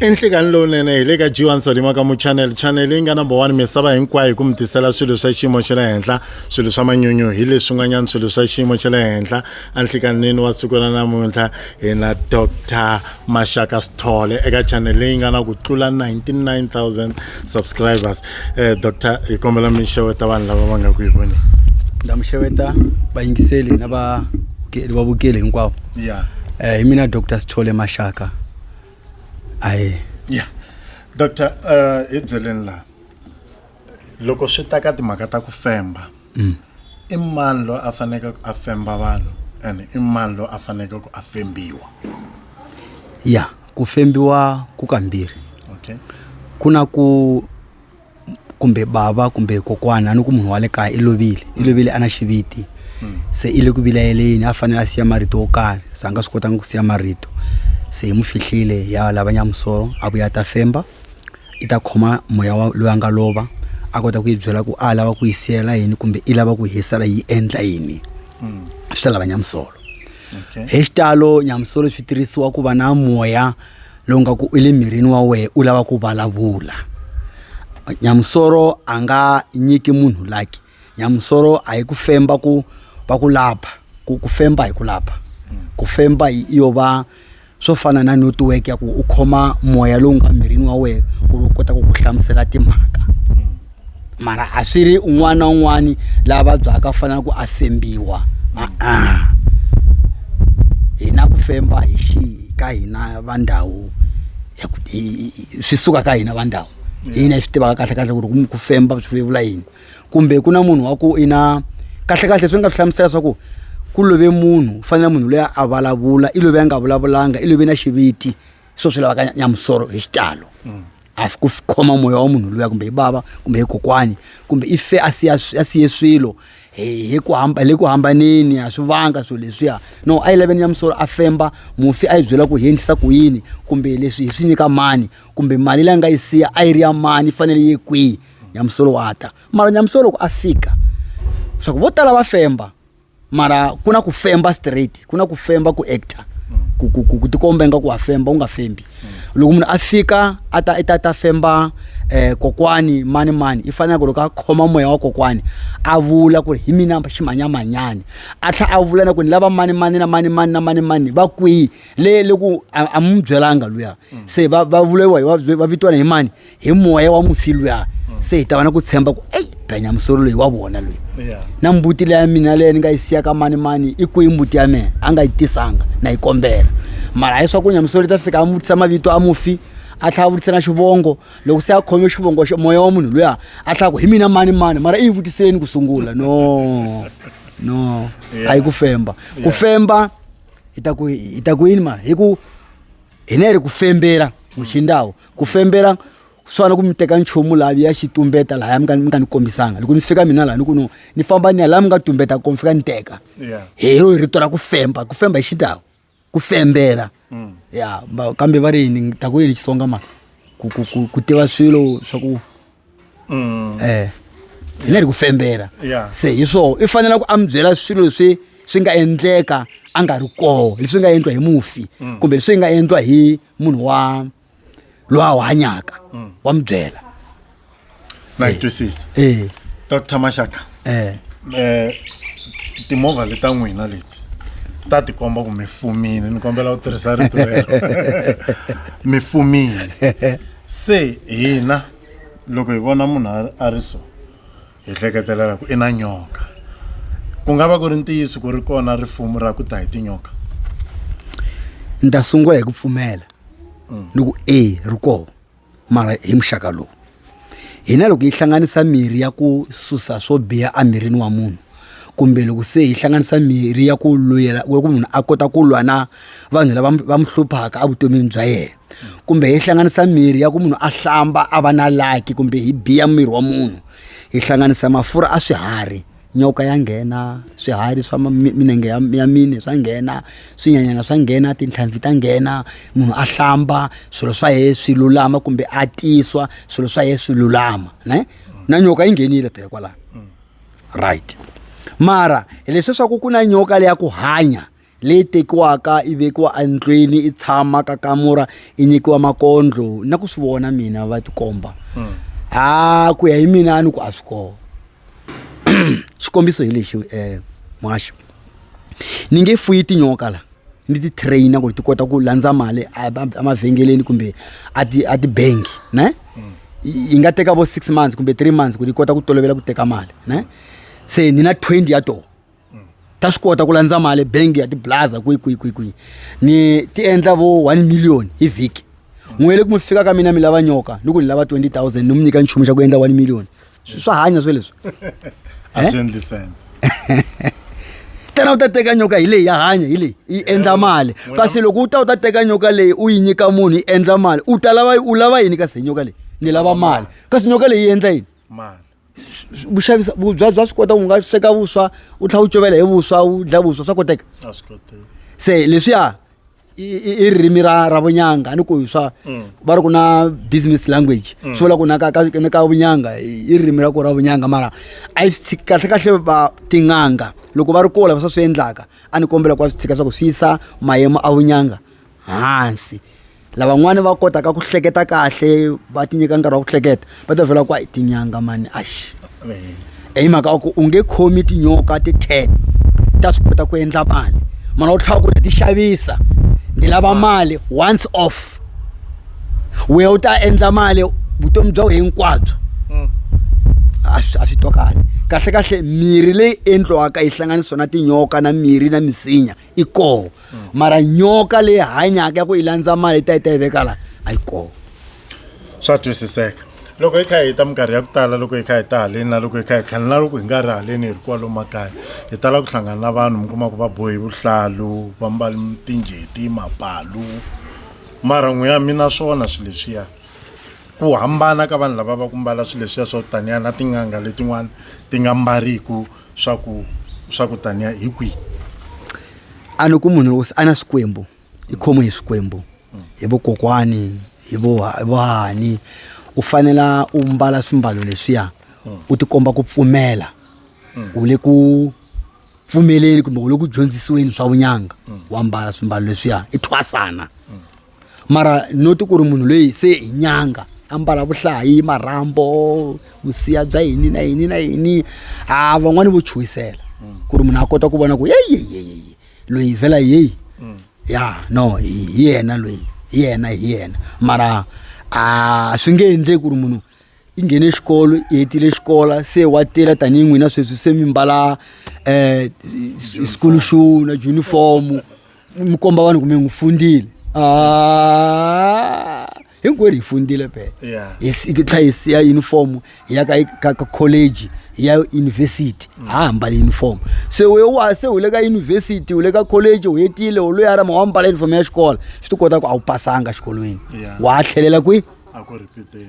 enhlekani lowunene hi le ka jiwan solima ka muchanel chanel yi nga number one misava hinkwayo hi ku mi tisela swilo swa xiyimo xa le henhla swilo swa manyunyu hi leswi n'wanyana swilo swa xiyimo xa le henhla enhlekanini wa siku ra namuntlha hi na dr maxaka sithole eka chanel leyi nga na ku tlula 99000 subscribers eh, doctor hi kombela mi xeweta vanhu lava va nga ku hi voneni ndza mi xeweta vayingiseli na va va vukeli hinkwavo ya eh, hi mina doctor sithole maxaka ayi ya doctor eh, hi byeleni laha loko swi ta ka timhaka ta ku femba mm. i mani loyi a faneke a femba vanhu and i mani loyi a faneke ku a fembiwa ya yeah. ku fembiwa ku kambirhi okay ku na ku kumbe bava kumbe kokwana ni ku munhu wa le kaya i lovile i lovile a na xiviti se i le ku vilayeleni a fanele a siya marito wo karhi se a nga swi kotanga ku siya marito se hi mu fihlile ya lava nyamusolo a vuya a ta femba i ta khoma moya wa loyi a nga lova a kota ku yi byela ku a lava ku yi siyela yini kumbe i lava ku hisela yi endla yini swi ta lava nyamusolo okay. hi xitalo nyamusolo swi tirhisiwa ku va na moya lowu nga ku u le mirini wa wehe u lava ku vulavula nyamusolo a nga nyiki munhu laki nyamusolo a yi ku femba ku va ku lapha ku ku femba hi ku lapha ku femba yo va swo fana na netiweke ya ku u khoma moya lowu nga mirini wa wena ku ri u kota ku ku hlamusela timhaka mara a swi ri un'wana na un'wana laha vabyaka u fanele ku a fembiwa a-a hi na ku femba hi xi ka hina va ndhawu swi suka ka hina va ndhawu hina hi swi tivaka kahle kahle ku ri ku femba swi vula yini kumbe ku na munhu wa ku i na kahlekahle swi nga swi hlamusela leswaku ku love munhu u fanele munhu loyi a vulavula i love a nga vulavulanga i love na xiviti swo swi lavaka nyamusoro hi xitalo mm. a ku khoma moya wa munhu luya kumbe hi bava kumbe hi kokwani kumbe i fe a siya a siye swilo hi ku hamba le ku hambaneni a swi vanga swilo leswiya no a yi laveni nyamusoro a femba mufi a yi byela ku hi endlisa ku yini kumbe leswi hi swi nyika mani kumbe mali leyi a nga yi siya a yi ri ya mani yi fanele yi kwihi nyamusolo wa ta mara nyamusolo loko a fika swa ku vo tala va femba mara ku na ku femba straight ku na ku femba ku actor ku, ku, ku, ku tikomba ingaku wa femba u nga fembi loko munhu a fika a ta i ta ta femba eh, kokwani mani mani i faneleke loko a khoma moya wa kokwani a vula ku ri hi mina ximanyamanyani a tlha a vula na ku ni lava mani mani na mani mani na mani mani va kwihi le loku a a mu byelanga luya se va va vulewa hi va- va vitiwana hi mani hi moya wa mufi luya se hi ta va na ku tshemba ku eyi benya musolo loyi wa vona loyi Yeah. na mbuti leya mina leyi ni nga yi siya ka mani mani i kwihi mbuti ya mina a nga yi tisanga na yi kombela mara hi swaku nyamusolo yi ta fika a mu vutisa mavito a mufi a tlhela a vutisa na xivongo loko se a khome xivongo xa moya wa munhu luya a tlhela ku hi mina mani mani mara i yi vutiseleni ku sungula no no a yi ku femba ku femba hi ta ku hi ta ku yini mara hi ku hi ne hi ri ku fembela muxindawu ku fembela ku swana ku mi teka nchumu laha mi ya xi tumbeta lahaya mi nga mi nga ni kombisanga loko ni fika mina laha ni ku no ni famba ni ya laha mi nga tumbeta kona mi fika ni teka Yeah. hi yo hi rito ra ku femba ku femba hi xitawu ku fembela ya ba- kambe va ri yini ni ta ku yini xitsonga ma ku ku ku ku tiva swilo swa ku Mm. eh hi le ri ku fembela Yeah. se hi swona i fanele ku a mi byela swilo leswi swi nga endleka a nga ri koho leswi nga endliwa hi mufi kumbe leswi nga endliwa hi munhu wa loyi a wu hanyaka mm. wa mi byela na yi twisisa eh. doctor maxaka eh. eh timovha leta n'wina leti ta tikomba ku mi fumile ni kombela u tirhisa rito rero mi fumile se hina loko hi vona munhu a ri so hi hleketelela ku i na nyoka ku nga va ku ri ntiyiso ku ri kona rifumo ra ku ta hi tinyoka ni ta sungula hi ku pfumela mm. ni ku e ri koho mara hi muxaka lowu hina loko yi hlanganisa mirhi ya ku susa swo biha emirini wa munhu kumbe loko se hi hlanganisa mirhi ya ku luyela ku munhu a kota ku lwa na vanhu lava va mu hluphaka evutomini bya yena kumbe hi hlanganisa mirhi ya ku munhu a hlamba a va na laki kumbe hi biya miri wa munhu hi hlanganisa mafurha a swiharhi nyoka ya nghena swiharhi swa minenge ya mine swa nghena swinyanyana swa nghena tintlhanvi ta nghena munhu a hlamba swilo swa ye swi lulama kumbe a tiswa swilo swa ye swi lulama ne na nyoka yi nghenile phela kwalano right mara hileswi swa ku ku na nyoka leya ku hanya leyi tekiwaka yi vekiwa endlwini yi tshama ka kamura yi nyikiwa makondlo na ku swi vona mina va tikomba hmm. a ku ya hi mina a ni ku a swi kona xikombiso hi lexi um eh, mwaxo ni nge fuyi tinyoka la ni ti traina ku ri ti kota ku landza mali emavhengeleni kumbe a tibangi ne hmm. yi nga teka vo six months kumbe three months ku ri yi kota ku tolovela ku teka mali ne se ni na twenty ya tona ta swi kota ku landza mali bangi ya tiblaza kwihi kwihi kwihi kwihi ni ti endla vo one million hi vhiki n'we le ku mi fika ka mina mi lava nyoka ni ku ni lava 20000 ni mi nyika nchumu xa ku endla one million Swi- swa hanya swe leswi a swi endli sense tena u ta teka nyoka hi leyi ya hanya hi leyi yi endla mali N'wina- kasi loko u ta u ta teka nyoka leyi u yi nyika munhu yi endla mali u ta lava u lava yini kasi hi nyoka leyi ni lava mali kasi nyoka leyi yi endla yini mali ku xavisa vubya bya swi kota u nga sweka vuswa u tlhela u covela hi vuswa u dya vuswa swa koteka se leswiya i ririmi ra ra vunyanga ni ku swa mm. va ri ku na business language mm. swi vula ku na ka ka ka vunyanga i ririmi ra ku ra vunyanga mara a yi swi kahle kahle va tin'anga loko va ri kola va swa swi endlaka a ni kombela ku va swi tshika swa ku swi yisa mayemo a vunyanga hansi lavan'wani va kotaka ku hleketa kahle va ti nyika nkarhi wa ku hleketa va ta vhela ku a hi tinyanga mani axi i eh, mhaka wa ku u nge khomi tinyoka ti ten ta swi kota ku endla mali mana u tlhava ku ni ti xavisa ni lava ah. mali once off wehe u ta endla mali vutomi bya wena hinkwabyo mm. a swi twa kahle kahle kahle mirhi leyi endliwaka yi hlanganisiwa na tinyoka na mirhi na misinya i koho mara nyoka leyi hanyaka ya ku yi landza mali ta yi ta yi veka la a yi koho swa twisiseka loko hi kha hi ta minkarhi ya ku tala loko hi kha hi ta haleni na loko hi kha hi tlhela na loko hi nga ri haleni hi ri kwalomu makaya hi tala ku hlangana na vanhu mi kuma ku va bohi vuhlalu va mbali tinjeti mapalu mara n'wi ya mina swona swilo leswiya ku hambana ka vanhu lava va ku mbala swilo leswiya swo taniya na tin'anga letin'wana ti nga mbariku swa ku swa ku taniya hi kwihi a ni ku munhu loko se a na swikwembu i khomiwe hi swikwembu hi vokokwani hi vohani u fanela u mbala swimbalo leswiya u tikomba ku pfumela u le ku pfumeleni kumbe u le ku dyondzisiweni swa vunyanga wa mbala swimbalo leswiya i thwasana mara no ti ku ri munhu loyi se hi nyanga a mbala vuhlayi marhambo vusiya bya yini na yini na yini ha van'wani vo chuhisela ku ri munhu a kota ku vona ku yeyeyeyeye loyi vhela yeyi mm. ya no hi yena loyi hi yena hi yena mara a swi nge endleki ku ri munhu i nghene xikolo i hetile xikola se wa tirha tanihi n'wina sweswi se mi mbala um school shoe na junifomu mi komba vanhu kumbe n'wi fundile a ah, hinkwerhu hi fundile phela hi tlha hi siya uniform hi ya ka ka college hi ya university mm. ha hambala uniform se we wa se u le ka university u le ka college u hetile u loyi a ra ma wa mbala uniform ya xikolo swi ti kota ku a wu pasanga xikolweni wa tlhelela kwihi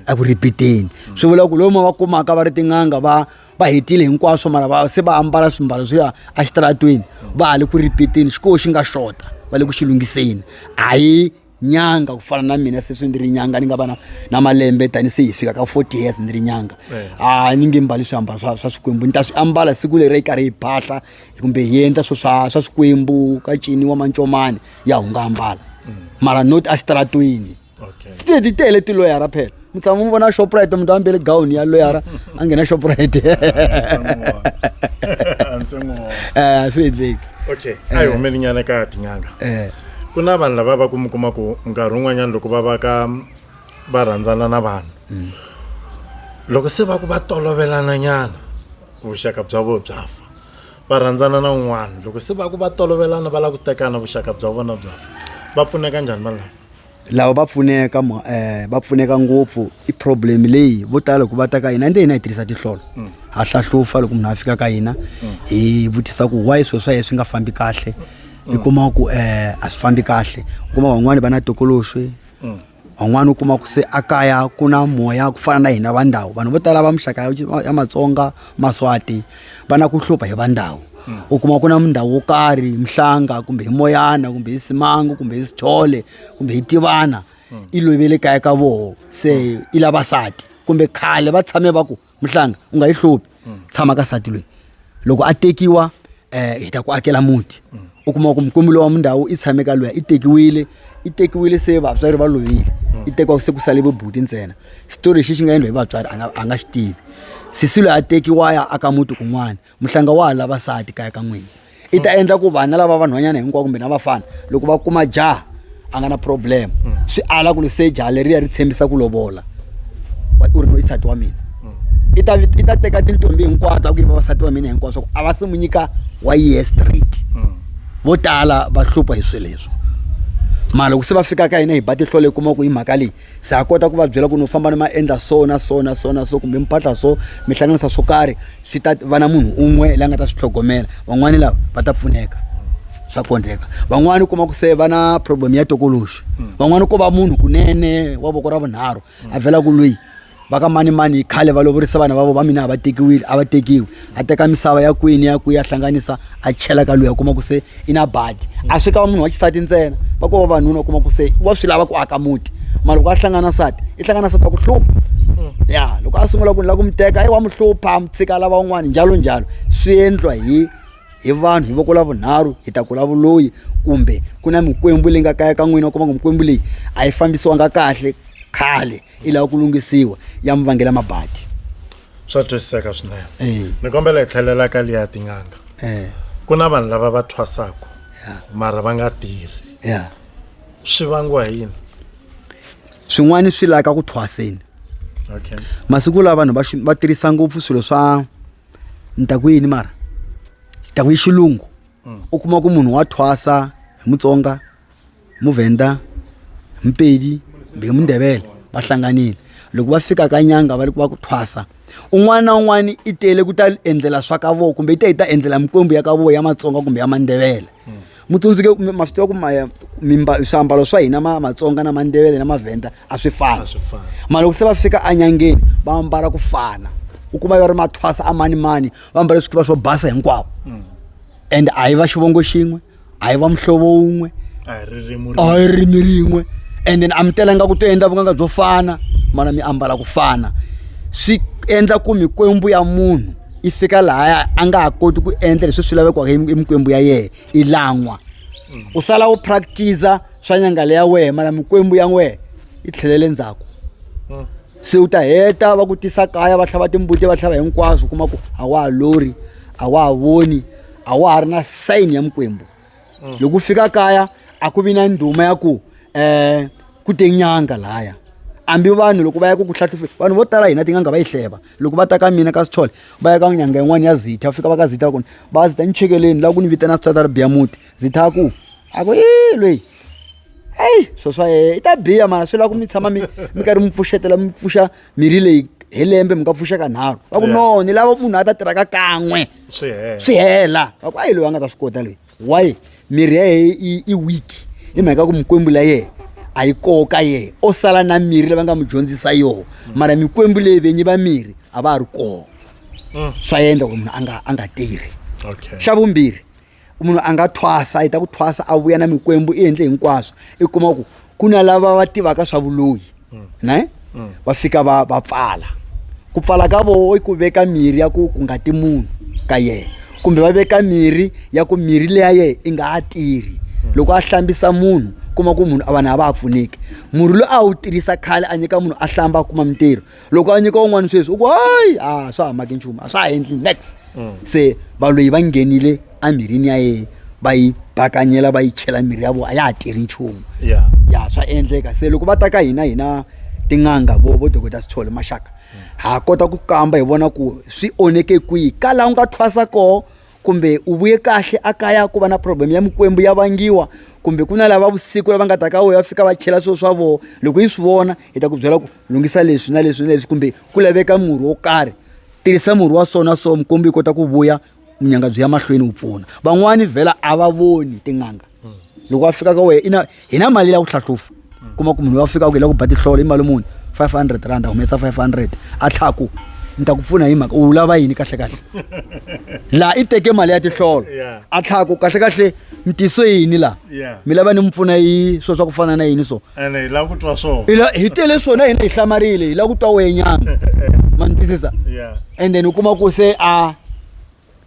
eku ripiteni swi vula ku lomu va kumaka va ri tin'anga va va hetile hinkwaswo mara va se va ambala swimbalo swo ya exitaratweni va ha le ku ripiteni xikoho xi nga xota va le ku xi lunghiseni a hi nyanga ku fana na mina seswi ndzi ri nyanga ni nga va na na malembe tani se hi fika ka forty years ndzi ri nyanga eh. a ni nge mbali swiambalo swa swa swikwembu ni ta swi ambala siku leri yi karhi hi phahla kumbe hi endla swo swa swa swikwembu ka ciniwa mancomani ya hu nga ambala mm. mara not exitaratweni okay ti ti tele tiloyara phela mi tshama mi vona shoprite munhu a mbele gawuni ya loyara a nghena shoprite eh, a swi endleki okay a yi humeli nyana ka tin'anga eh. ku na vanhu lava va ku mi kuma ku nkarhi wun'wanyana loko va va ka va rhandzana na vanhu mm. loko se va ku va tolovelana nyana vuxaka bya vona bya fa va rhandzana na un'wana loko se va ku va tolovelana va lava ku tekana vuxaka bya vona bya fa va pfuneka njhani valava lava va pfuneka um va pfuneka ngopfu i problem leyi vo tala loko va ta ka hina ende hina hi tirhisa tihlolo mm. ha hlahlufa loko munhu a fika ka hina mm. hi vutisa ku why swilo swa ye swi nga fambi kahle mm. i kuma ku um a swi fambi kahle u kuma van'wani va na tokoloxi van'wana u kuma ku se a kaya ku na moya ku fana na hina va ndhawu vanhu vo tala va muxaka ya matsonga maswati va na ku hlupha hi va ndhawu hmm. u kuma ku na ndhawu wo karhi mhlanga kumbe hi moyana kumbe hi simangu kumbe hi sithole kumbe hi tivana hmm. i lovele kaya ka voho se hmm. i lava sati kumbe khale va tshame va ku mhlanga u nga yi hluphi tshama ka sati loyi loko a tekiwa um hi ta ku akela muti u kuma ku mukumbi lowa mindhawu i tshame ka loya i tekiwile i tekiwile se vatswari va lovile i tekiwa se ku sale vubuti ntsena xitori lexi xi nga endla hi vatswari a nga a nga xi tivi sisi loyi a tekiwa ya aka muti kun'wana muhlanga wa ha lava nsati kaya ka n'wina i ta endla ku vana lava vanhwanyana hinkwavo kumbe na vafana loko va kuma jaha a nga na problem swi ala ku ri se jaha leriya ri tshembisa ku lovola wa- u ri no i nsati wa mina i ta i ta teka tintombi hinkwato a ku yi vavasati va mina hinkwaswo a va se mu nyika wa yehe straight vo tala va hlupha hi swilo leswi mara loko se va fika ka hina hi ba tihlolo hi kuma ku hi mhaka leyi se ha kota ku va byela ku no famba ni ma endla so na so na so na so kumbe mi phatla so mi hlanganisa swo karhi swi ta va na munhu un'we la nga ta swi tlhogomela van'wani lava va ta pfuneka swa kondleka van'wani u kuma ku se va na problem ya tokoloxi van'wani ko va munhu kunene wa voko ra vunharhu a vhela ku loyi va ka manimani hi khale va lovorisa vana va vo va mina a va tekiwile a va tekiwi a teka misava ya kwini ya kwihi a hlanganisa a chela ka luya kuma ku se i na badi a swi ka va munhu wa xisati ntsena va ko va vanuna u kuma ku se wa swi lava ku aka muti ma loko a hlangana nsati i hlangana nsati wa ku hlupha ya loko a sungula ku ni la ku mi teka i wa mi hlupha mi tshika lava un'wana njalo njalo swi endlwa hi hi vanhu hi voko la vunharhu hi ta kula vuloyi kumbe ku na mikwembu leyi nga kaya ka n'wina u kuma ku mikwembu leyi a yi fambisiwanga kahle khale i lava ku lunghisiwa ya mi vangela mabadi swa twisiseka swinene Eh. ni kombela hi tlhelela ka liya tin'anga Eh. ku na vanhu lava va thwasaka mara va nga tirhi ya swi vangiwa hi yini swin'wana swi laka ku thwaseni okay masiku lawa vanhu va xi- va tirhisa ngopfu swilo swa ni ta ku yini mara ni ta ku yi xilungu u kuma ku munhu wa thwasa hi mutsonga muvhenda mpedi mbe mundebele va hlanganile loko va fika ka nyanga va va ku thwasa un'wana na un'wana i tele ku ta endlela swa ka voko kumbe i ta yi ta endlela mikwembu ya ka voko ya matsonga kumbe ya mandebele hmm. mi tsundzuke ma swi tiva ku mimba swiambalo swa hina ma matsonga na mandebele na mavhenda a swi fani ma loko se va fika enyangeni va ambala ku fana u kuma va ri mathwasa a mani mani va ambale swikiva swo basa hinkwavo hmm. and a hi va xivongo xin'we a hi va muhlovo wun'we a hi ririmi a hi ririmi rin'we and then a mi telanga ku to endla vunganga byo fana mana mi ambala ku fana swi endla ku mikwembu ya munhu i fika lahaya a nga ha koti ku endla leswi swi lavekaka emikwembu ya yena i lan'wa mm. u sala u practice-a swa nyangale ya wena mana mikwembu ya wena yi tlhelele ndzhaku mm. se u ta heta va ku tisa kaya va tlhava timbuti va tlhava hinkwaswo kuma ku a wa ha lori a wa ha voni a wa ha ri na sayini ya mikwembu mm. loko u fika kaya a ku vi na ndhuma ya ku um ku te nyanga laya hambi vanhu loko va ya ku ku hlahlufe vanhu vo tala hina tin'anga va yi hleva loko va ta ka mina ka sithole va ya ka nyanga yin'wana ya zitha fika va ka zitha kona va zitha ni chekeleni laha ku ni vitana switswata ri biya muti zitha ku a ku i lweyi eyi swo swa yeye i ta biya mara swi lava ku mi tshama mi mi karhi mi pfuxetela mi pfuxa mirhi leyi hi lembe mi nga pfuxeka nharhu va ku no ni lava munhu a ta tirhaka kan'we swi hela va ku a yi loyi a nga ta swi kota leyi why mirhi ya ye i week hi mhaka ku mikwembu la yena a yi koka ye o sala na mirhi lava nga mu dyondzisa yoho mara mikwembu leyi venyi va mirhi a va ha ri koho mm. swa endla ku munhu a nga a nga tirhi xa vumbirhi munhu a nga thwasa a heta ku thwasa a vuya na mikwembu i endle hinkwaswo i kuma ku ku na lava va tivaka swa vuloyi mm. ne mm. va fika va va pfala ku pfala ka voho i ku veka mirhi ya ku ku nga ti munhu ka yena kumbe va veka mirhi ya ku mirhi leya yena i nga ha tirhi mm. loko a hlambisa munhu kuma ku munhu a vanhu a va ha pfuneki murhi loyi a wu tirhisa khale a nyika munhu a hlamba a kuma mintirho loko a nyika un'wana sweswi u ku hayi a swa ha maki nchumu a swa ha endli next mm. se valoyi va nghenile emirini ya yena va yi bakanyela va yi chela mirhi ya vona a ya ha tirhi nchumu ya swa endleka se loko va ta ka hina hina tin'anga vo vo dokota sithole maxaka ha kota ku kamba hi vona ku swi onheke kwihi ka laha u nga thwasa koho kumbe u vuye kahle a kaya ku va na problem ya mikwembu ya vangiwa kumbe ku na lava vusiku lava nga ta ka wena va fika va chela swilo swa vona loko yi swi vona hi ta ku byela ku lunghisa leswi na leswi na leswi kumbe ku laveka murhi wo karhi tirhisa murhi wa so na so mukwembu yi kota ku vuya munyanga byi ya mahlweni wu pfuna van'wani vhela a va voni tin'anga loko a fika ka wehe i na hi na mali ya ku hlahlufa kuma ku munhu wa fika ku hi la ku ba tihlolo i mali muni five hundred rand a humesa five hundred a tlhaku ni ta ku pfuna hi mhaka u lava yini kahlekahle laha i teke mali ya tihlolo a tlhaku kahlekahle mi tiso yini laha mi lava ni mi pfuna yi swo swa ku fana na yini so hi tele swona hina hi hlamarile hi la ku twa wenyana ma ni twisisa and then u kuma ku se a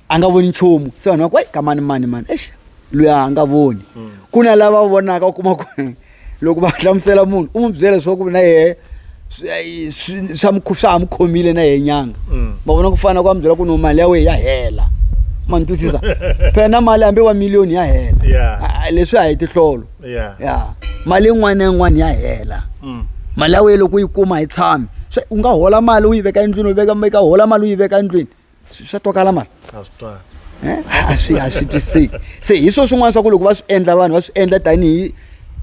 a nga voni nchumu se vanhu va ku kamani mani mani exi loyi a nga voni hmm. ku na lava vonaka u kuma ku loko va hlamusela munhu u n'wi byela leswaku na yehe swa swa ha mu khomile na yehe nyanga ma hmm. vona ku fana ku va mu byela ku no mali ya wehe ya hela ma ni twisisa phela na mali hambi wa miliyoni ya hela leswi a hi tihlolo ya mali yin'wana na yin'wana ya hela hmm. mali ya wehe loko u yi kuma hi tshami u nga hola mali u yi veka endlwini u veka hola mali u yi veka endlwini swa twakala mani a swi twali eh? a swi a swi twiseki se hi swo swin'wana swa ku loko va swi endla vanhu va swi endla tanihi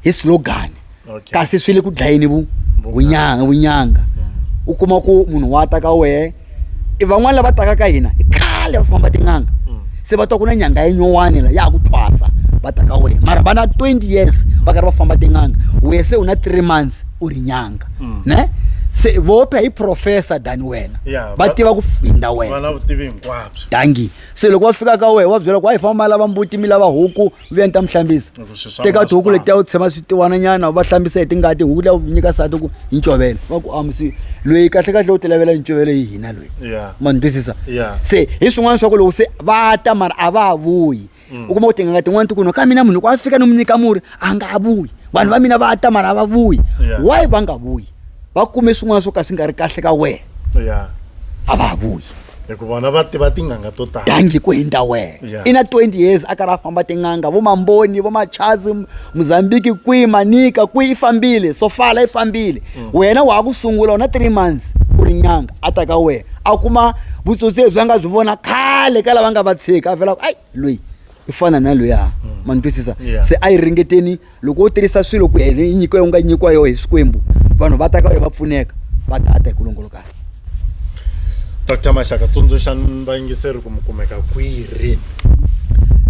hi slogan kasi swi le ku dlayeni vunyanga vunyanga u kuma ku munhu wa ta ka wehe i van'wana lava taka ka hina i khale va famba tin'anga mm. se va twa ku na nyanga ya nyowani la ya ku thwasa va ta ka wehe mara va na 20 years va karhi va famba tin'anga wehe se u na three months u ri nyanga ne se vope hi professor than wena Yeah, va va- tiva ku finda va wena na vutivi hinkwabyo dangi se loko va fika ka wehe wa byela ku a hi famba lava mbuti mi lava huku vuya ni ta mi hlambisa Loko swi swa teka vona tihuku swi letiya u tshema switiwana nyana u va hlambisa hi tingati huku liya u nyika sati ku hi ncovela va ku amusi loyi kahle kahle u ti lavela ncovelo hi hina loyi Yeah. ma ni twisisa Yeah. se hi swin'wana swa ku loko se va ta mara a va ha vuyi u kuma kuti ngati n'wantu kuno kamina munhu ku afika nomunyika muri a nga ha vuyi vanhu va mina va ta mara a va vuyi Yeah. why va nga vuyi va kume swin'wana swo ka swi nga ri kahle ka wena ya a va ha vuyi hikuva vona va tiva tinganga to tala dangi ku hindza wena Yeah. i na 20 years a karhi a famba tin'anga vo mamboni vo machazi M- mozambique kwihi manika kwihi i fambile sofala i fambile wena wa ha ku sungula u na three months u ri nyanga a ta ka wena a kuma vutsotsi lebyi a nga byi vona khale ka lava nga va tshika a velaku ayi loyi i fana na loyi a mm. ma ni twisisa se a yi ringeteni loko u tirhisa swilo ku yena yi nyiko yo nga nyikiwa yoho hi swikwembu vanhu va ta ka wena va pfuneka va ta a ta hi ku longolokana dr maxaka tsundzuxa vayingiseri ku mi kumeka kwihi rini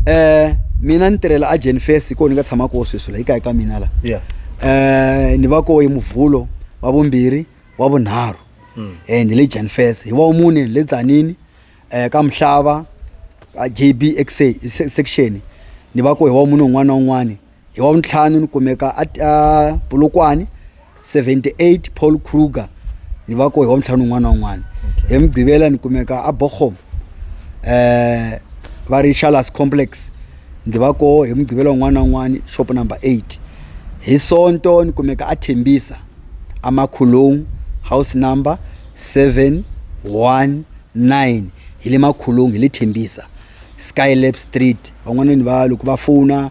um mina ni tirhela agent fes hi kona ni nga tshama koho sweswi la yi kayi ka mina la ya um ni va koho hi muvhulo wa vumbirhi wa vunharhu um ni le jan fes hi wa mune le tsanini um ka mhlava a jb xa section ni va koho hi wa mune un'wana na un'wana Hi Wavuntlhanu ni kumeka aPolokwane 78 Paul Kruger ni va ko hi Wavuntlhanu un'wana na un'wana hi Mugqivela ni kumeka aBochum eh va ri Shalas Complex ndzi va ko hi Mugqivela un'wana na un'wana shop number 8 hi Sonto ni kumeka aThembisa aMakhulung house number 719 hi le Makhulung hi le Thembisa Skylab Street van'wana ni va loko va fona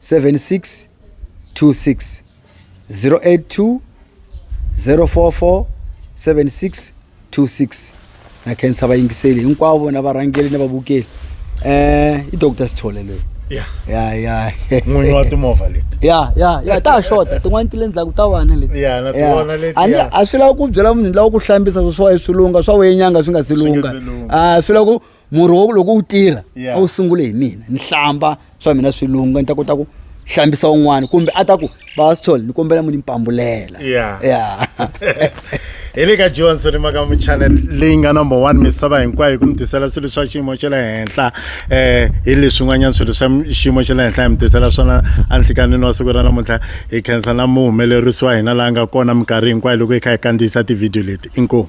76 26 082 044 76 26 na khensa vayingiseli hinkwavo na varhangeli na vavukeli um i doctor sithole loyi ya ya ya n'winyi wa timovha leti ya ya ya ta xota tin'wana ti le ndzhaku ta vana leti Ya, na tona leti, A ni- ya. a swi lava ku byela munhu lawa ku hlambisa swo swa swilunga swa wenyanga swi nga si Swi nga lunga si lunga. a swi lava ku murhi wa ku loko wu tirha Yeah. a wu sungule hi mina ni hlamba swa mina swi lungha ni ta kota ku hlambisa un'wana kumbe a ta ku bastol ni kombela mu ni mpambulela Yeah. ya hi le ka johnson i maka muchannel leyi nga number one misava hinkwayo hi ku mi tisela swilo swa xiyimo xa le henhla um hi leswin'wanyana swilo swa m- xiyimo xa le henhla hi mi tisela swona anhlikanini wa siku ra namuntlha hi khensa na muhumelerisi wa hina laha nga kona minkarhi hinkwayo loko hi kha hi kandziyisa tivhidiyo leti inkomu